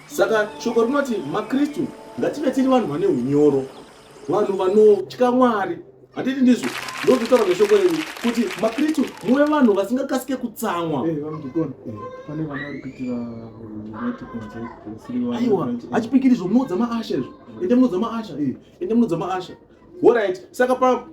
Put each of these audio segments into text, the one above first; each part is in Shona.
Saka shoko rinoti maKristu ngative tiri vanhu vane unyoro, vanhu vanotya Mwari. Handiti ndizvo? Ndozotaura neshoko renyu kuti maKristu muve vanhu vasingakasike kutsamwa. Eh, Aiwa, achipikiri izvo munoudza maasha izvo. Ende munoudza maasha, eh, ende munoudza maasha. Alright, saka pa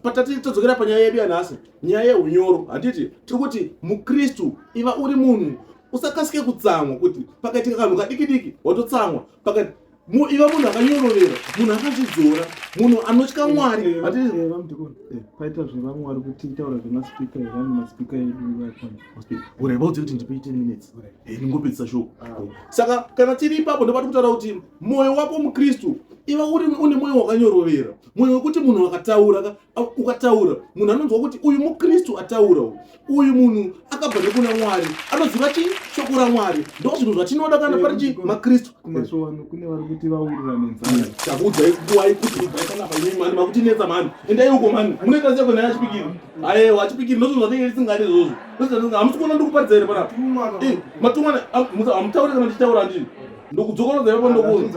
patati todzokera panyaya yedu yanhasi nyaya yeunyoro handiti tiri kuti mukristu iva uri munhu usakasike kutsamwa kuti pakaitika kanhu kadiki diki watotsamwa pakati iva munhu akanyorovera munhu akazvidzora munhu anotya mwari paita zvevamwari kuti taura zvemaspika here ane maspika eduureva udzi kuti ndipe 10 minutes eh, ndingopedzisa shoko ah. eh, saka kana tiri ipapo ndobati kutaura kuti mwoyo wako mukristu iva uri une mwoyo wakanyorovera mwoyo wekuti munhu akataura ukataura munhu anonzwa kuti uyu mukristu ataura uyu munhu akabva nekuna mwari anoziva chi shoko ramwari ndo zvinhu zvatinoda kana pari chi makristu kumasvowano kune vari kuti vaurira nenzara takuudzai kuwai kuti ibvai panapa imi mani makutinetsa mani endai uko mani munoita seko naye achipikiri ayewa achipikiri ndozvinhu zvatinge tisingadi izvozvo ndozvinhu hamusi kuona ndikuparidza here panapa matumwana hamutaure kana ndichitaura ndini ndokudzokorodza ipapo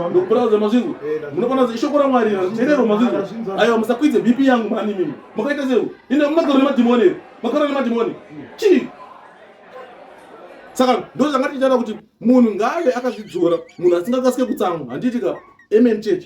ndokupuraudza mazvinzwa munopana ishoko ramwari rerero mazvinzwa aiwa musakwidze bp yangu mani mimi makaita sei ende makaro nemadhimoni ere makaro nemadhimoni chii saka ndo zvanga tichitaura kuti munhu ngaave akazvidzora munhu asingakasike kutsamwa handiti ka amen church